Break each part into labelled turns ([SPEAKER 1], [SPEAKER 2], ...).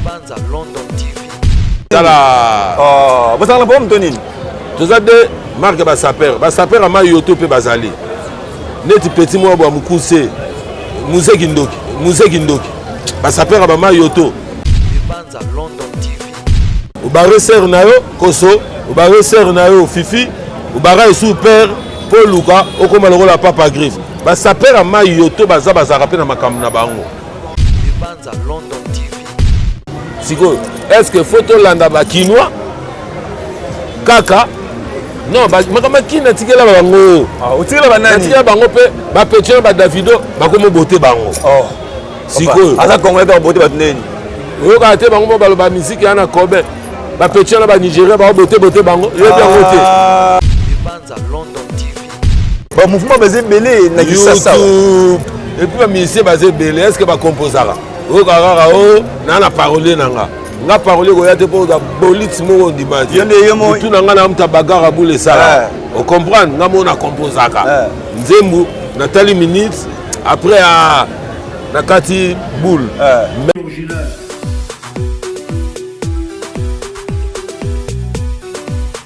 [SPEAKER 1] Libanza London TV. Tala.
[SPEAKER 2] Oh, bosala na bombe to nini? Toza de
[SPEAKER 3] marque ba sapeur. Ba sapeur ama yoto pe bazali. Neti petit mwa bwa mukuse. Muze kindoki, muze kindoki. Ba sapeur ba ma yoto. Libanza
[SPEAKER 1] London TV. Obare
[SPEAKER 3] sœur na yo koso, obare sœur na yo Fifi, obara esu père po luka okoma lokola papa griffe. Ba sapeur ama yoto baza bazaka pe na makambo na bango. Libanza
[SPEAKER 1] London TV.
[SPEAKER 3] Sikoyo, est-ce que faut tolanda ba Kinois kaka non makambo akini natikela bango ah, otikela banani natikela
[SPEAKER 2] bango mpe
[SPEAKER 3] bapetio na badavido bakomi bote bango oh. sikoyo aza kongo ete babote
[SPEAKER 2] bato ndeni oyokaka te
[SPEAKER 3] bango mo baloba miziki ya na kobe bapetio na banigérien baobote bote bango yebi yango te
[SPEAKER 1] ah. ba mouvement
[SPEAKER 2] baza ebele na kisasa epuis
[SPEAKER 3] bamisie baza ebele est ce que bakomposaka oyoka kaka o oh, naa na parolier na nga nga parolier koya te mpo oza bolite moko ondima te mutu na nga na muta bagara bule esala eh. ocomprendre nga moko na komposaka eh. nzembu natali minute après ah, na kati boule eh.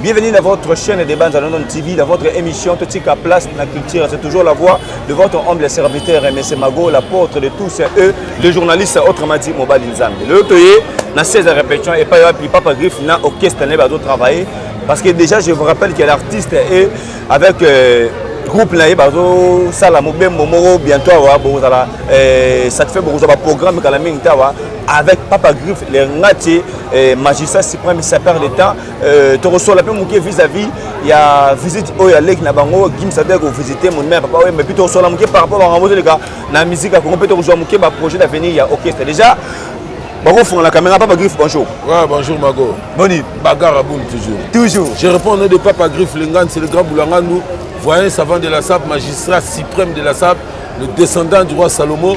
[SPEAKER 2] Bienvenue dans votre chaîne de Banza London TV, dans votre émission Totika Place na Culture. C'est toujours la voix de votre humble serviteur, M. Mago, l'apôtre de tous eux, le journaliste autrement dit Mobali Nzambi. Le Toye, na 16 répétitions, et pas puis Papa Griff, na orchestre, n'a pas travailler. Parce que déjà, je vous rappelle qu'il y a l'artiste et avec. Euh, groupe na ye bazosala mobembo moko bientôt awa bokozala eh, satisfait bokozwa baprogramme kala mingi te awa avec papa griffe le ngati eh, magistrat suprême sapeur de temps Euh, tokosola mpe moke vis-à-vis ya visite oyo ya leki na bango gims ade kovisite monima ya papa oyo mpe tokosola moke par rapport bango bozoleka na miziki ya kongo mpe tokozwa moke baprojet d'avenir ya orchestre déjà bakofunga na kamera papa griffe bonjour ouais, bonjour mago
[SPEAKER 3] boni bagarre
[SPEAKER 2] à boule
[SPEAKER 3] toujours toujours je réponds au nom de papa griffe lengan c'est le grand boulangandu voyant savant de la sable magistrat suprême de la sable le descendant du roi salomon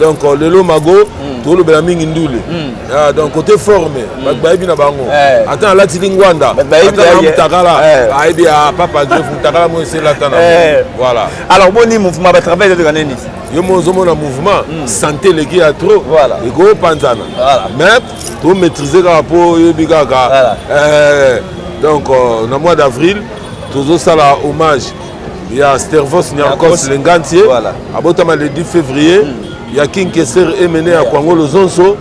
[SPEAKER 3] donc euh, lelo mago mm. tolobela mingi ndule mm. ah, donc côté forme mm. bato bayebi na bango eh. ata alati lingwanda mutakala eh. ayebi ya ah, papa jef mutakala mo eselata na eh. voilà alors boni
[SPEAKER 2] mouvement batravail ezalaka nini yo mo ozomona
[SPEAKER 3] mouvement mm. santé eleki ya trop voilà. ekopanzana voilà. mais tomaîtrise kaka mpo oyebi kaka voilà. eh, donc euh, na mois d'avril tozosala hommage ya stervos niarcos lengantie voilà. abotama le 10 février mm. ya king keser emene ya kwango lozonso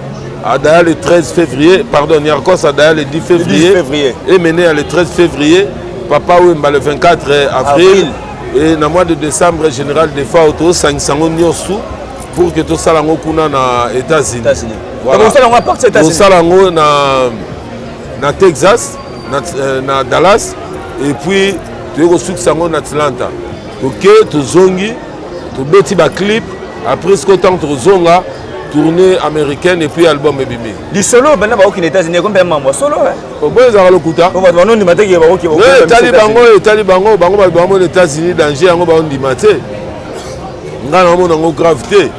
[SPEAKER 3] adaya le 13 février pardon niarcos adaya le 10 février, le 10 février. emene ya le 13 février papa wemba le 24 avril, avril. et na mois de décembre général defa tosangisa yango nyonso pour que tosala yango kuna na états-unis
[SPEAKER 2] tosala yango
[SPEAKER 3] na texas na, euh, na dallas et puis toye kosukisa yango na atlanta toke tozongi tobeti baclip après siko ntango tokozonga tournée américaine et puis album ebimi lisolo banda bakoki na
[SPEAKER 2] états-unis ekomi mpe mambo solo oboyo ezalaka lokuta
[SPEAKER 3] bato banondima te ke
[SPEAKER 2] bakoki etali bango
[SPEAKER 3] etali bango bango bato bango na états-unis danger yango baondima te ngai naomona yango grave te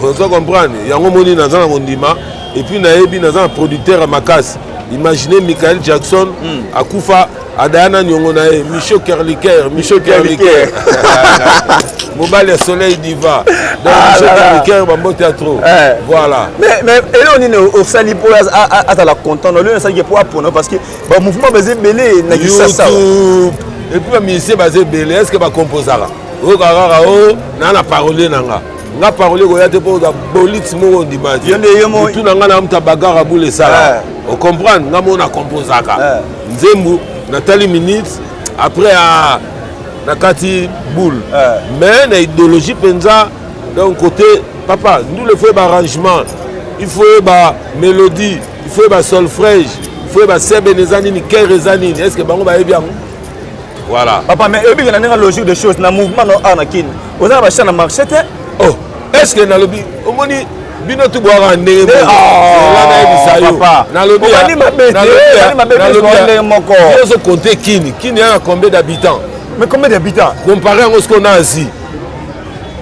[SPEAKER 3] oza comprendre yango omoni naza na kondima epuis nayebi naza na producteur ya makasi imagine michael jackson mm. akufa adaya na niongo na ye micho kerliker micho kerliker mobali ya soleil diva donc ah, micho kerliker bambote ya trop eh. voilà mais eloko
[SPEAKER 2] nini osali mpo azala content na olio osalaki mpo apona parce que bamouvement baza ebele na kisasa epuis
[SPEAKER 3] bamusicien baza ebele est ce que bacomposaka oyoka kaka o oh, naa na parolier na nga nga parole ekoya te mpo oza bolite moko ondima te mutu na nga na mutu abagara bule esala eh. ocomprendre nga moko na composaka eh. Nzembu na tali minute après a na kati boule eh. mais na idéologie penza donc côté papa nous le faut arrangement il faut ba mélodie il faut ba solfège il faut ba sebe eza nini cœur eza nini est-ce que bango bayebi yango voilà papa mais oyebi
[SPEAKER 2] na ndenge logique des choses na mouvement na awa na kini oza na bachant na marché te oh est
[SPEAKER 3] ce que nalobi omoni bino tu bwaka ndenge eh, ah, nayebisayonalobiobandenge moko ozo compte kini kini yana combien d'habitants mais combien d'habitants
[SPEAKER 2] compare yango sikoyo na
[SPEAKER 3] asie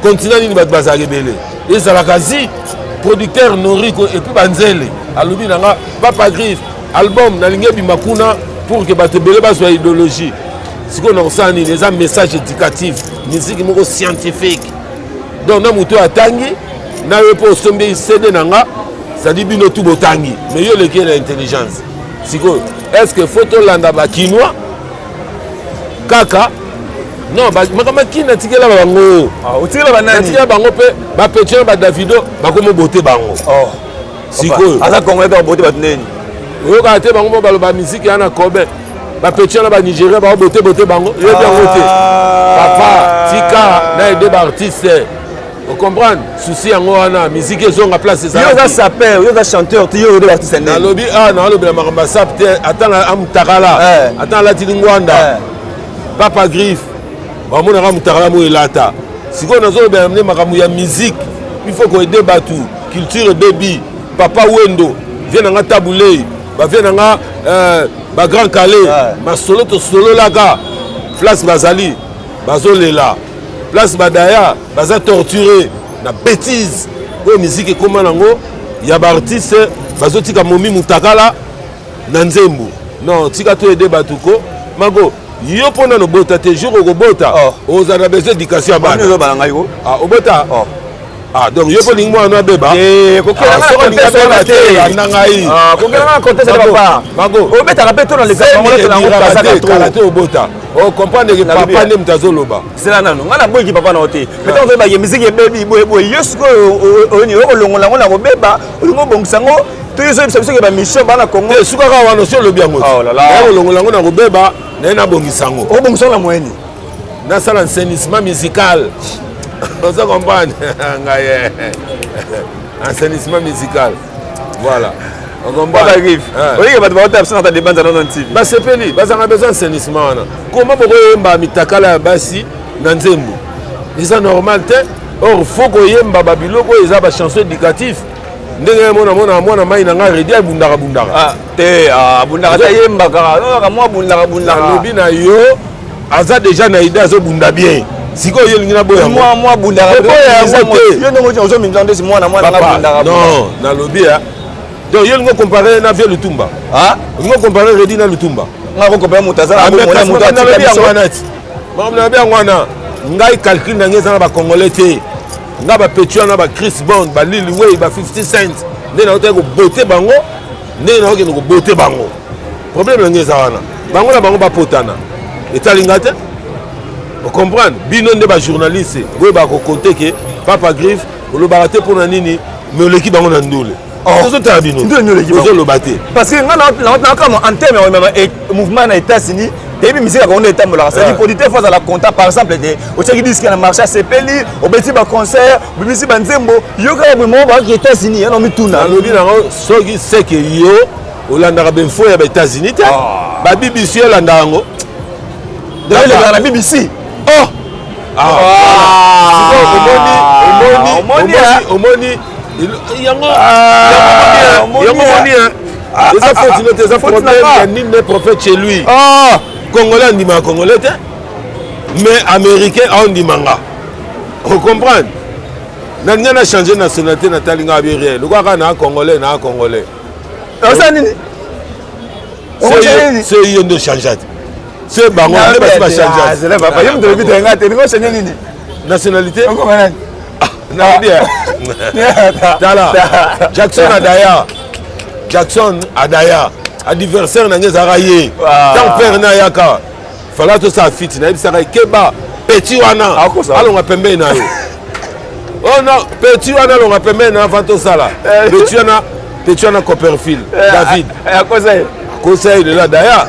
[SPEAKER 3] continent nini bato bazalaka ebele ezalaka asie producteur noriko epuis banzele alobi na nga papa griffe album nalingi ebima kuna pour ke bato ebele bazwa idéologie sikoyo nakosala nini eza message éducatif miziki moko scientifique donc na moto oyo atangi na yo mpo osombi cd na nga sadi bino tu botangi mais yo oleki na intelligence sikoyo est ce que faut tolanda bakinois kaka non makambo akini atikela bango ah, otikela banani
[SPEAKER 2] atikela bango mpe
[SPEAKER 3] bapetio na badavido bakomi obote bango oh. sikoyo aza congolais kaka
[SPEAKER 2] bote bato neni oyokaka te bango
[SPEAKER 3] mo baloba miziki ya na kobe bapeti wana banigeria bao botebote bango yebi yango te ah. papa tika na ede baartiste ocomprendre souci yango wana miziki ezonga place ezayoka saper yoka
[SPEAKER 2] chanteur te yoyode baartiste nde nalobi a ah, nalobela
[SPEAKER 3] makambo ya sap te ata na amutakala eh. ata nalatili ngwanda eh. papa griffe bamonaka mutakala mo elata sikoyo nazolobela nde makambo ya miziki il faut koede bato culture ebebi papa wendo vie na nga tabulei bavie na nga euh, bagrand kale masolo tosololaka place bazali bazolela place badaya baza torture na bétise oyo miziki ekóma nango ya baartiste bazotika momi mutakala na nzembo non tika to ede bato ko mago yo mpo nano bota te jour okobota oh. ozala na besoin éducation ya bana
[SPEAKER 2] obota oh.
[SPEAKER 3] Ah, donc yo mpo olingi mwana no abeba
[SPEAKER 2] na ngai
[SPEAKER 3] kokelanga contese
[SPEAKER 2] na papa obetaka mpe to
[SPEAKER 3] na
[SPEAKER 2] lesaokalate obota
[SPEAKER 3] okomprendre ke papa nde moto azoloba zela nano ngai naboyiki
[SPEAKER 2] papa na yo te mpe ntango toyebaki miziki ebebi boyeboye yo sikoyo oyoni okolongola yango na kobeba olingi obongisa yango toyozobisa biso ke bamission bana congo esukaka wana osi olobi
[SPEAKER 3] yango olongola
[SPEAKER 2] yango na kobeba
[SPEAKER 3] naye nabongisa yango obongisa yango na moyeni
[SPEAKER 2] nasala
[SPEAKER 3] enseignement musical oza comprendre ngai eh. enseignement musical voilà olike
[SPEAKER 2] bato baota biso nata debanza nono ntv basepeli bazanga besoin
[SPEAKER 3] enseignement wana koma bokoyemba mitakala ya basi na nzembo eza normal te or fo koyemba babiloko oyo eza bachanson éducatif ndenge mona mona mwana mai na ngai redi abundaka bundaka ah. te
[SPEAKER 2] ah, abundaka ata yembaka kaka mwa abundaka abundaka alobi na yo
[SPEAKER 3] aza deja na ide azobunda bien sikoyo yo olingi naboya mwa mwa abundaka oboya
[SPEAKER 2] yango te yo ndenge otii ozomimisa ndesi mwana mwana nga abundaka non nalobi
[SPEAKER 3] ya donc yo olingi okompare na vie lutumba ah? olingi okompare redi na lutumba nga kokompare moto aza
[SPEAKER 2] na bomona moto atika biso
[SPEAKER 3] makambo nalobi yango wana ngai calcul na ngai eza na bacongolais te nga bapeti wana ba chris bond balili wei ba 50 cent nde naotaki kobote bango ndenge nazokende kobote bango problème yango eza wana bango na bango bapotana etali nga te ocomprendre bino nde bajournaliste boyebaka kokonte ke papa griffe olobaka te mpo na nini me oleki bango na ndule oh. tozotala bino ozoloba te parce que nga nakamwa
[SPEAKER 2] en terme ya mouvement na états-unis eyebi miziki yango nde etambolaka sadi producteur fo azala content par exemple te otyaki diske na marché asepeli obeti baconcert obimisi banzembo yo kaka boye moko bakaki états-unis yana omituna alobi nango soki
[SPEAKER 3] seke yo olandaka bainfo ya baétats-unis te ah. babibisi yo olanda yango
[SPEAKER 2] elekaka na bbc oh! ah. Ah.
[SPEAKER 3] omoni yango omoni Ah, eza ah, foti ah, no te eza problème ya nini ne prophète chez lui ah congolais andimaka congolais te mais américain aondima nga ocomprendre na ngai na change nationalité natali ngai abi rien lokola kaka naa congolais naa congolais
[SPEAKER 2] oza nini
[SPEAKER 3] se yo nde ochange te se bango nde basi bachange nationalité tala jackson adaya jackson adaya adversaire na ngai ezalaka ye ntango pere na ayaka fala tosala fiti nayebisaka ye keba peti wana alonga pembeni na yo oh non peti wana alonga pembeni na yo avant tosala eh. peti wana peti wana copperfield eh, david
[SPEAKER 2] eh,
[SPEAKER 3] akosa ye lela daya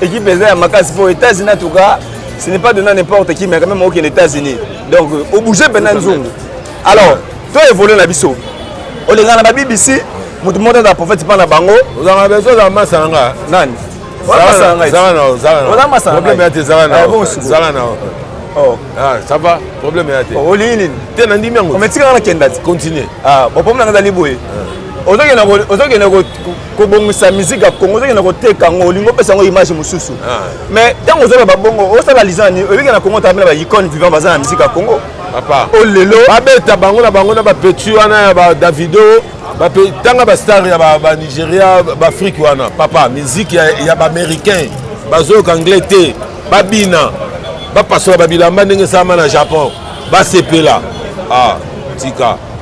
[SPEAKER 2] Equipe eza ya makasi po États-Unis en tout cas, ce n'est pas donné n'importe qui mais quand même okende États-Unis. Donc au bouger pena nzungu. Alors, to évoluer na biso. Olinga na ba BBC, mutu moko aza prophète pa na bango. Ozanga besoin za masa
[SPEAKER 3] na nga. Nani?
[SPEAKER 2] Zala na zala na zala na. Oza masa na. Problème ya te zala na. Zala na. Oh. Ah, ça va
[SPEAKER 3] problème ya te olingi nini te na ndimi
[SPEAKER 2] yango
[SPEAKER 3] ometikaka na kenda ti
[SPEAKER 2] continue ah, problème
[SPEAKER 3] nanga ezali
[SPEAKER 2] boye ozokende kobongisa musique ya congo ozokende koteka yango olingi opesa yango image mosusu ah. mais ntango ozala babongo osala liza nini oyebiki na congo tabela baicone vivant baza na musique ya congo papa o oh, lelo
[SPEAKER 3] babeta
[SPEAKER 2] bango na bango
[SPEAKER 3] na bapeti wana ya badavido tanga bastar ya banigeria baafrike wana papa miziki ya baaméricain bazoyoka anglais te babina bapasola babilamba ndenge esalama na japon basepela ah, tika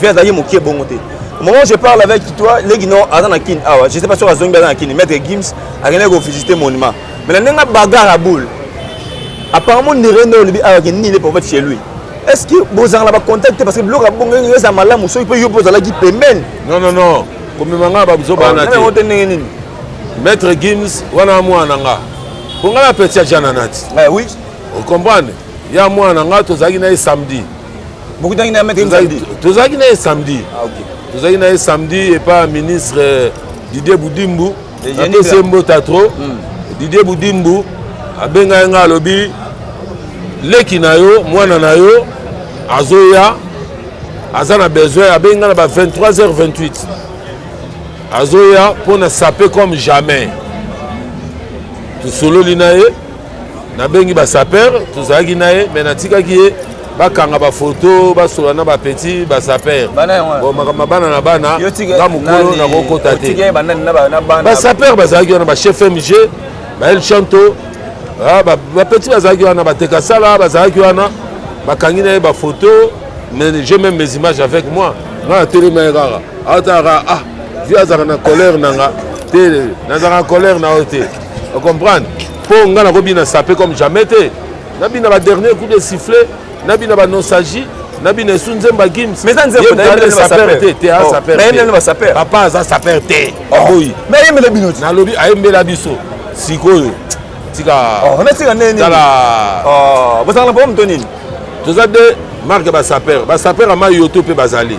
[SPEAKER 2] vie azalaki mokie bongo te au moment où je parle avec toi leki no aza na kin awa je sais pas soki azongi aza na kin maître gims akendaki kovisite monument mais na ndenge abagar ya boule apparemment ndere nde olobi awa ke nini le prophète chez lui est ce que bozalaka na bacontact te parce que biloko ya bongo eza malamu soki mpe yo mpe ozalaki pembeni non non non
[SPEAKER 3] komema ngai babuzoba wana te te ndenge nini maître gims wana mwana nga mpo ngai na peti ya jananati eh oui
[SPEAKER 2] ocomprendre
[SPEAKER 3] ya mwana nga tozalaki na ye samedi bokutaki na
[SPEAKER 2] maître samedi tozalaki na ye samedi
[SPEAKER 3] ah, okay. tozalaki
[SPEAKER 2] na ye samedi
[SPEAKER 3] epa ministre euh, didier budimbu apesi ye mbota trop mm. didier budimbu abenga ye ngai alobi leki na yo mwana na yo azoya aza na besoin abengi ngai na ba 23h28 azoya mpo na sape comme jamais tosololi na ye nabengi basaper tozalaki na ye me natikaki ye bakanga bafoto basola na bapeti basaper makambo bana na bana nga mokolo nakokota te basaper bazalaki wana bachef mg bael chanto ah, bapeti bazalaki wana bateka sala bazalaki wana bakangi na ye bafoto mais j'ai même mes images avec moi nga natelema ye kaka atalaka ah vi azalaka na colère na nga te nazalaka na colère na yo te o comprendre mpo ngai nakobina sape comme jamais te nabina ba dernier coup de sifflet nabina ba nostalgie nabina esu nzembo ya
[SPEAKER 2] gims
[SPEAKER 3] papa
[SPEAKER 2] aza saper te
[SPEAKER 3] aboyi
[SPEAKER 2] nalobi ayembela biso
[SPEAKER 3] sikoyo tikatala bozalaka na bango moto nini
[SPEAKER 2] toza de
[SPEAKER 3] marke basaper basaper ya mai yo to mpe bazali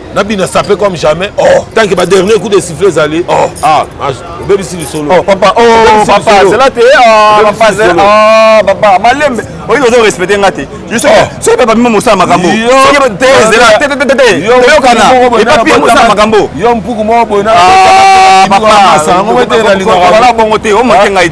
[SPEAKER 3] na bina sape comme jamais oh tant que ba dernier coup de sifflet ezali oh ah obebisi lisolo oh papa oh
[SPEAKER 2] papa zela te oh papa zela oh papa malembe oyo ozo respecter nga te juste soki papa mimi mosala makambo soki te zela te te te te toyokana epapi mosala makambo yo mpuku moko boye na
[SPEAKER 3] papa
[SPEAKER 2] yango te na lingaka wala bongo te omoke ngai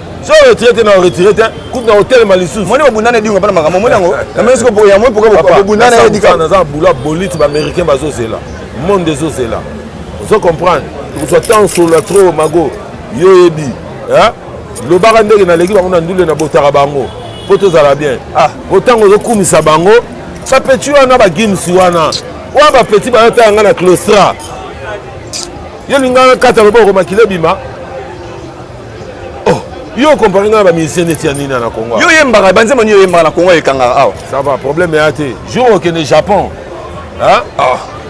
[SPEAKER 3] so retire te na retire te kutu na kotelema lisusu moni bobundana edingo mpa na
[SPEAKER 2] makambo omoni yango namoni siko yango mpoka bobundana edika naza bula bolite
[SPEAKER 3] baaméricain bazozela monde ezozela ozo comprendre okozwa ntango solola trop mago yo oyebi lobaka ndenge naleki bango na ndule na botaka bango mpo tozala bien ah. po ntango ozokumisa bango bapeti wana bagims wana oyo bapeti bayotala ngai na clostra yo lingana kata loboko makila ebima oh yo okompare ngai na bamusicien neti ya nini na congo yo oyembaka banzembo nini
[SPEAKER 2] oyembaka na congo ekangaka awa ça va problème eya te
[SPEAKER 3] jour okende japon ah.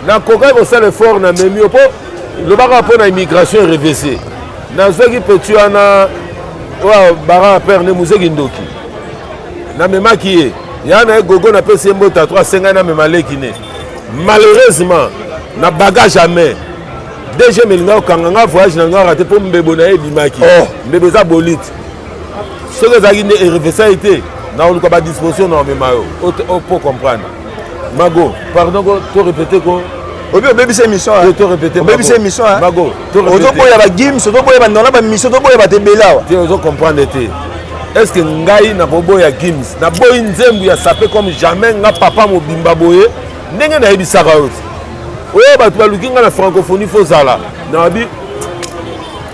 [SPEAKER 3] nakokaki kosala effort na memi yo mpo lobaka mpo na immigration erevese nazwaki peti wana oyo bara père nde mozeki ndoki namemaki ye ya na ye gogo napesi ye mbota to asengai namema leki ne malheureusement na bagage ya mai DGM elinga kokanga nga voyage na nga rate mpo mbebo na ye ebimaki oh. mbebo eza bolite soki ezalaki nde erefesai te naoluka badisposition na omema yo po comprendre mago pardon ko to répété ko obi obebisa émission
[SPEAKER 2] obebisa
[SPEAKER 3] émission mago
[SPEAKER 2] ozoboya bagims ozoboya bandola bamission ozoboya bato ebele awa te ozo comprendre te
[SPEAKER 3] est ce que ngai nakoboya gims naboyi nzembu ya sape comme jamais nga papa mobimba boye ndenge nayebisaka yo oyo bato baluki ngai na francophonie fo ozala nabi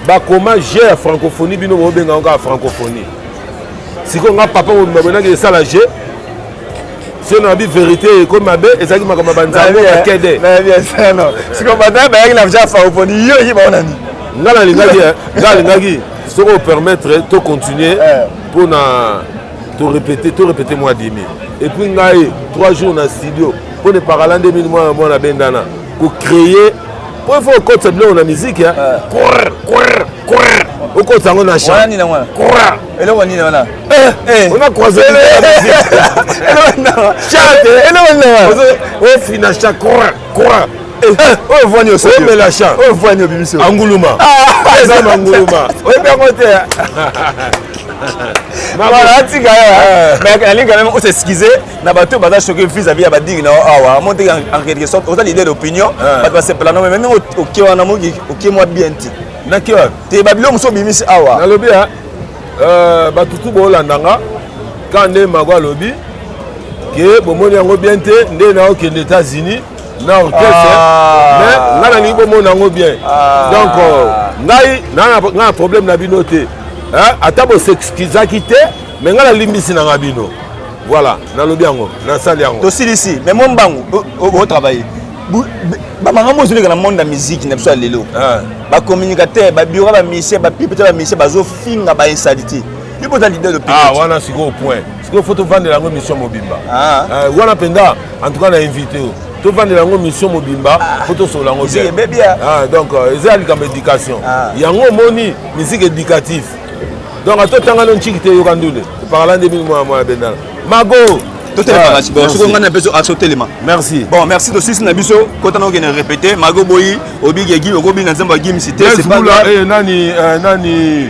[SPEAKER 3] bakoma je ya francophonie bino bobenga yango kaka francophonie sikoyo nga papa mobimba boyinaki esala je sio nabi verité ekomi mabe ezalaki makambo ya banzambe ya kede
[SPEAKER 2] sikoyo banda bayaki na ja francophonie yo oki baona nini nga nalingaki
[SPEAKER 3] nga alingaki soki opermettre to continuer mpo eh. na to répéter to répéter mwa demi et puis ngai trois jours na studio mpo ne parala nde mini mwana mwana bendana kocréer mpo il faut okotisa biloko na miziki okotisa yango na chanona croise ofina cha oyo
[SPEAKER 2] vwani oomela cha oyo vwani
[SPEAKER 3] obimisi
[SPEAKER 2] anguluma
[SPEAKER 3] eza manguluma oyebi yango te
[SPEAKER 2] voilà atika ye eh. mais nalingi quand même osexcuse na bato baza choqué vis à vis ya badingi na yo awa ah, monte en quelque sorte oza leader d'opinion eh. bato basepela no mais ndenge oke wana moki oke mwa bien te naki wapi te
[SPEAKER 3] babilo mosusu obimisi
[SPEAKER 2] awa nalobi ya
[SPEAKER 3] eh, bato tu boolanda nga ka nde mago alobi ke bomoni yango bien te nde naokende états-unis na orchestre ah. mais ngai nalingi bomona yango bien ah. donc euh, ngai ngai na problème na bino te ata bosexkizaki te mais ngai nalimbisi na ngai bino voilà nalobi yango nasali yango tosilisi mais mo mbangu
[SPEAKER 2] otravaille bamakambo ozoleka na monde ya miziki na biso ya lelo ah. bacommunicateur babiro bamisien bapipe te bamisien bazofinga bainsalite ipo oza lider de wana sikoyo point
[SPEAKER 3] sikoyo fo tovandela yango émission mobimba ah. eh, wana mpenza en tout cas na invité oyo tovandela yango mission mobimba ah. po tosolola yango bien ah, donc euh, eza ya likambo éducation ah. yango omoni musique éducatif donc ata otanga no nciki te yoka ndule epakala nde mingi mwana mwana bendala mago totelemaasokonga na biso asotelema merci bon merci tosisi na
[SPEAKER 2] biso kota na okende répété mago boyi obigi ya gimi okobina nzembo ya gimisi te nani
[SPEAKER 3] eh, nani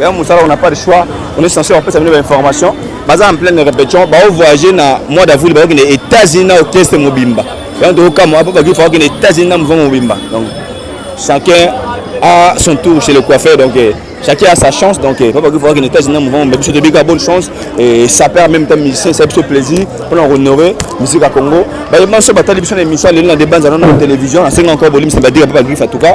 [SPEAKER 2] ya mosala on n'a pas de choix on est censé kopesa bino bainformation baza en pleine répétition baovoyage na mois d'avril bakokende états-unis na orchestre mobimba yango tokokamwa mpo bakifa bakende états-unis na mouvement mobimba donc chacun a son tour chez le coiffeur donc eh, chacun a sa chance donc eh, mpo bakifa bakende états-unis na mouvement mobimba biso tobika bonne chance et ça perd même temps musicien esa biso plaisir mpona kohonore musique ya congo baye banso batali biso na émission lelo na debanza nano na télévision nasengi encore bolimisa badira mpo bakifa en tout cas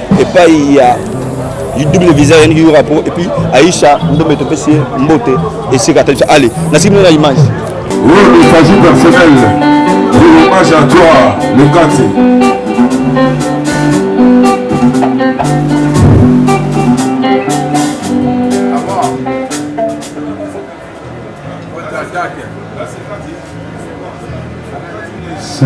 [SPEAKER 2] epai ya double visa yaniki yura po epuis aisha ndombe topesi ye mbote esika ata biso ale nasiki mona image Oui, il
[SPEAKER 3] s'agit personnel. Pour hommage à toi, le quartier. C'est